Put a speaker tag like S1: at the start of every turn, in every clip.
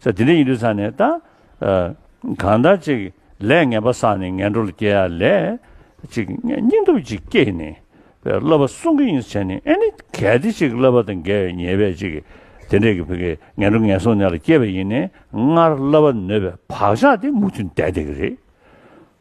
S1: ས་དེ་འདྲའི་ཡིན་དུས་ཚང་ནས་ད། གང་ལྟར་ཅིག་ལས་ངན་པ་བསགས་ནས་ངན་འགྲོ་ལ་སྐྱེ་ཡ་ལས། ཅིག་སྙིང་སྟོབས་ཅིག་སྐྱེས་ནས། བསླབ་པ་སྲུང་གི་ཡིན་བྱས་ནས་ཨེ་ནི་གལ་ཏེ་ཅིག་བསླབ་པ་དང་འགལ་བའི་ཉེས་པས་ཅིག་དེ་འདྲས་ཀྱི་བུ་གའི་ངན་འགྲོ་ངན་སོང་ནད་ལ་སྐྱེས་པ་ཡིན་ནས་སྔར་བསླབ་པ་ནོད་པའི་བག་ཆགས་དེ་མུ་མཐུད་འདས་བསྡད་ཀྱི་རེད།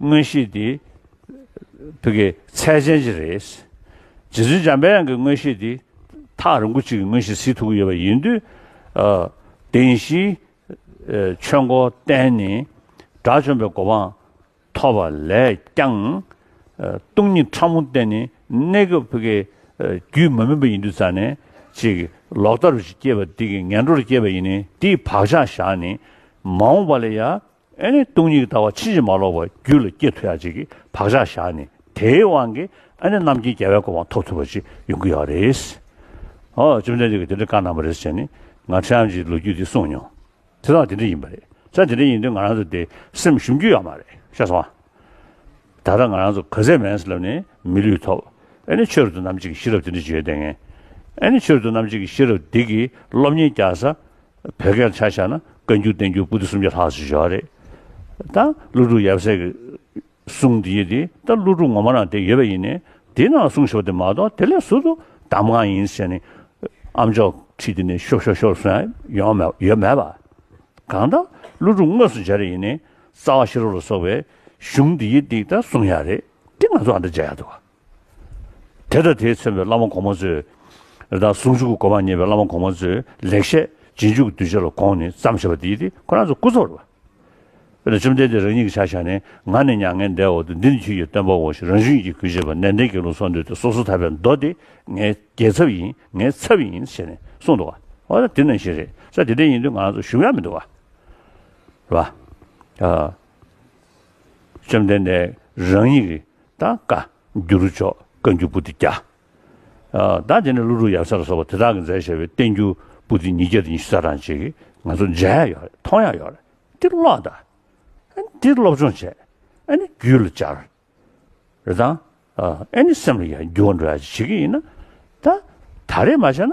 S1: དངོས་གཞི་འདི། བོད་ཀྱི་ཚད་ཅན་གྱི་རེད། རྗེ་བཙུན་འཇམ་དཔལ་དབྱངས་ཀྱི་དངོས་གཞི་འདི། ཐག་རིང་པོ་གཅིག་གི་དངོས་གཞི་གཟིགས་ཐུབ་ཀྱི་ཡོད་པ་ཡིན་དུས། བདེན་བཞིའི་ཆོས་འཁོར་བསྟན་ནས་དགྲ་བཅོམ་པའི་གོ་འཕང་ཐོབ་པ་ལས་ཀྱང། སྟོང་ཉིད་ཕྲ་མོ་བསྟན་ནས་གནས་སྐབས་བོད་ཀྱི་རྒྱུད་མ་སྨིན་པ་ཡིན་དུས་རྩ་ནས་ཅིག་ལོག་ལྟ་རུ་ཅིག་སྐྱེས་པ་འདི་ཀྱི་ངན་འགྲོར་སྐྱེས་པ་ཡིན་ནས་འདིས་བག་ཆགས་བཞག་ནས་མ་འོངས་པ་ལ་ཡང། ཨེ་ནི་སྟོང་ཉིད་ལྟ་བ་ཕྱིན་ཅི་མ་ལོག་པ་རྒྱུད་ལ་སྐྱེ་ཐུ་ཡ་གཅིག་གིས་བག་ཆགས་བཞག་ནས་དེའི་དབང་གིས་ཨེ་ནི་རྣམ་མཁྱེན་རྒྱལ་བའི་སྐུ་དབང་ཐོབ་ཐུབ་པ་ཅིག་ཡོང་གི་ཡོད་རེད། ཨོ་བཅོམ་ལྡན་འདས་ཀྱིས་དེ་འདྲ་བཀའ་གནང་བ་རེད་ཟེར་ནས་ང་ཁྲི་འམ་ཅིའི་ལོ་རྒྱུས་དེ་གསུངས་མྱོང། དེ་དག་དེ་འདྲ་ཡིན་པ་རེད་ས་དེ་འདྲ་ཡིན་དུས་ང་རང་ཚོ་དེ་སེམས་ཞུམ་རྒྱུ་ཡོད་མ་རེད་ཤ་ཟ་བ། ད་ལྟ་ང་རང་ཚོ་ག་ཟེ་མེན་སི་ལབ་ནས་མི་ལུས་ཐོབ་ཨེ་ནི་ཆོས་རྡོ་རྣམ་གཅིག་གི་ཤེས་རབ་དེ་འདྲ་བརྗོད་ལྡན་ངེས། ཨེ་ནི་ཆོས་རྡོ་རྣམ་གཅིག་གི་ཤེས་རབ་འདི་གིས་སློབ་གཉེར་རྒྱག་ས་བོད་སྐད་ཆ་བཤད་ན་བཀའ་འགྱུར་བསྟན་འགྱུར་པུ་ཏི་སུམ་བརྒྱ་ལྷག་ཅིག་བཞག་རེད་ད། ཀླུ་སྒྲུབ་ཡབ་སྲས་ཀྱི་གསུང་དེ་ཡིན་དེ་ད་ཀླུ་སྒྲུབ་ངོ་མ་རང་དེ་ཡོད་པ་ཡིན་ནས་དེའི་ནང་ལ་གསུང་ཞོར་དེ་མ་གཏོགས་དེ་ལས་ཟུར་དུ་གདམས་ངག་ཡིན་ཟེར་ནས་ཨ་མཆོག་ཁྲིད་དེ་ནས་ཤོར་ཤོར་ཤོར་སོང་ཡོང་མ་ཡོད་མེད་པ། གང་ལྟར་ཀླུ་སྒྲུབ་དངོས་སུ་མཇལ་རེ་ཡིན་ནས་རྩ་བ་ཤེ་རོག་ལ་སོགས་པའི་གཞུང་དེ་ཡིན་དེ་ད་གསུང་ཡག་རེད་དེ་ང་ཚོ་ཨ་མདོ་མཇལ་ཡག་འདུག། དེ་དང་དེའི་མཚོན་པའི་བླ་མ་གོང་མ་ཚོའི། དང་ཟུང་འཇུག་གི་གོ་འཕང་བརྙེས་པའི་བླ་མ་གོང་མ་ཚོའི་ལེགས་བཤད་རྗེས་འཇུག་གི་གདུལ་བྱ་ལ་དགོངས་ནས་བརྩམས་ཞེས་པ་འདི་ཡིས་ཏེ་ཁོ་རང་ཚོ་སྐུ་འཚོ་བ། དཔེར་ན་བཅོམ་ལྡན་འདས་རང་ཉིད་ཀྱི་ཕྱག་བཞག་ནི་ང་ནི་མྱ་ངན་འདས་འོག་ཏུ་འདི་ནི་ཁྱོད་ཀྱི་སྟོན་པའོ་ཞེས་རང་བཞིན་གྱིས་གུས་བྱེད་པ་ནན་ཏན་གྱི་ལུང་གསུང་འདོད་དེ་སོ་སོ་ཐར་པའི་མདོ་འདི་ངའི་རྒྱལ་ཚབ་ཡིན་ངའི་ཚབ་ཡིན་ཞེས་ནས་གསུང་འདུག་བ། འོ་ན་དེ་ནང་བཞིན་རེད་ས་དེ་འདྲ་ཡིན་དུས་ང་རང་ཚོ་ཞུམ་ཡང་མི་འདུག་བ། བཅོམ་ལྡན་འདས་རང་ཉིད་ཀྱི། དང་བཀའ་འགྱུར་མཆོག་བཀའ་འགྱུར་པུ་ཏི་བརྒྱ། དང་དེ་ནས་ཀླུ་སྒྲུབ་ཡབ་སྲས་ལ་སོགས་པ་དེ་དག་གི་མཛད་བྱས་པའི་བསྟན་འགྱུར་པུ་ཏི་ཉིས་བརྒྱ་དང་ཉི་ཤུ་རྩ་གྲངས་ཅིག་ང་ཚོ་མཇལ་ཡག་ཡོད་རེད་མཐོང་ཡག་ཡོད་རེད་འདི་ཀློག་དང། འདི་སློབ་སྦྱོང་བྱས། རྒྱུད་ལ་སྦྱར། རེད་དང། སེམས་ལ་ཡང་འགྱུར་བ་འགྲོ་ཡག་ཅིག་བྱེད་ཀྱི་ཡིན། ད་རེས་མ་བྱས་ན